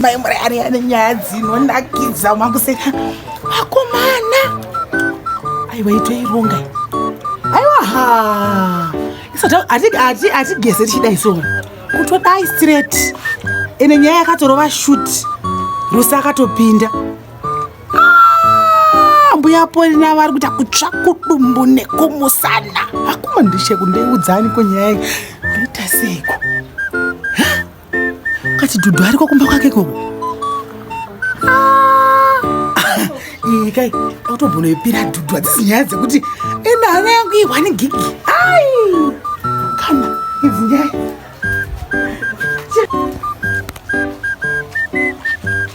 mai murayari ane nyaya dzinonakidza makuseka vakomana aiwa itoironga aiwa ha hatigeze tichidai so kutodai straight ene nyaya yakatorova shut rose akatopinda ah, mbuya polina vari kuita kutsva kudumbu nekumusana akuma ndicheku ndeiudzani kwenyaya ndoita seiko kachidhudhu ariko kumba kwake koko iyi kai akutogona ipira dhudhu hadzisi nyaya dzekuti enda hana yangu ihwani gigi ai kana idzi nyaya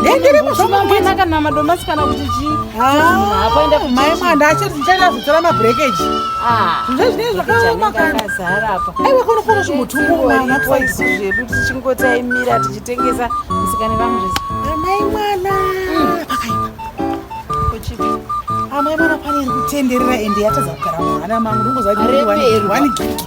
ndendirimo zvamamwena kana madomasi kana kuti chii apaenda kumai mwanda achiri ndichaenda kutora mabrekeji zvinza zvinei zvakaoma kanazara apa aiwa kono kono zvimbotumbuaaisu zvedu tichingotaimira tichitengesa musikane vamuzvese amai mwana pakaipa amai mwana pane iri kutenderera ende yatadza kugara mwana mangu ndongozaani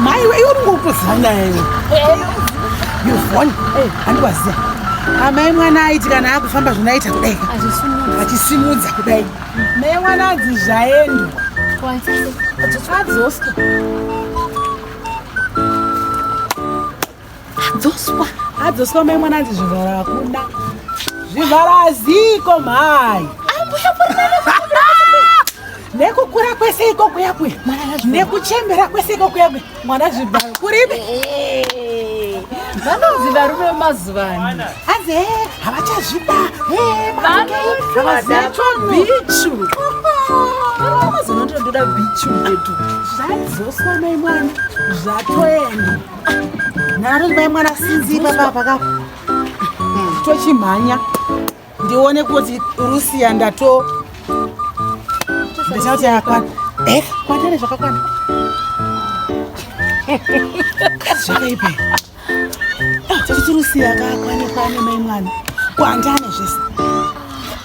maiwe iwe unenge utoziva nyaya iwe yovhoni handiwaziva amai mwana aiti kana akufamba zvinoita kudai achisimudza kudai mai mwana adzi zvaendwa adzoswa Dzoswa. Adzoswa mai mwana anzi zvivhara hakuna. Zvivhara ziko mhai. Ambuya nekukura kwese iko kuya kuya nekuchembera kwese iko kuya kuya mwana zvivhara kuripi? Vanonzi varume vemazuva ano. Anzi eh havachazvida. Eh manje. Vanoitwa bichu. Vanozonotoda bichu yetu. Zvadzoswa mai mwana. Zvatoenda. nharo ibai mwana sinzi baba paka tochimhanya ndione kuti rusiya ndato ndichaa kuti yakwana eh, kwanane zvakakwana zvakaipa tochiti rusiya kakwane kwane mai mwana kwandane zvese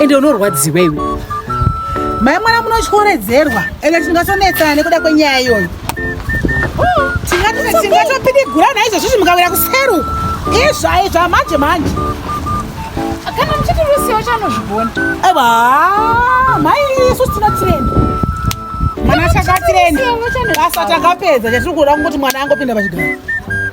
ende unorwadziwa iwe mai mwana munotyoredzerwa ende tingasonetsana nekuda kwenyaya iyoyo tingatopidigurana izvozvizvi mukawira kuseruku izvai zvamanje manje kana muchiti rusiwo chanozvigona aiwa mai isu tinotirenda mwana chakatirenda basa takapedza chatiri kuda kungoti mwana angopinda pachigaro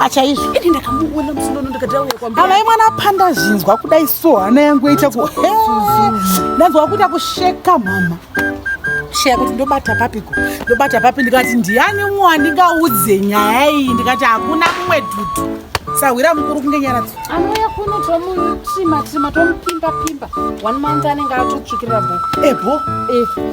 achaizvo ini ndakamuona musinono ndikatauya kwambuya kana imwana apanda zvinzwa kudai so hana yangu yaita ku ndanzwa kuita kusheka mama sheya kuti ndobata papiko ndobata papi ndikati ndiani umwe wandingaudze nyaya iyi ndikati hakuna mumwe dudu sahwira mukuru kunge nyara dzi anouya kuno tomutima tima tomupimbapimba one month anenge atotsvukirira bho ebho eh, eh.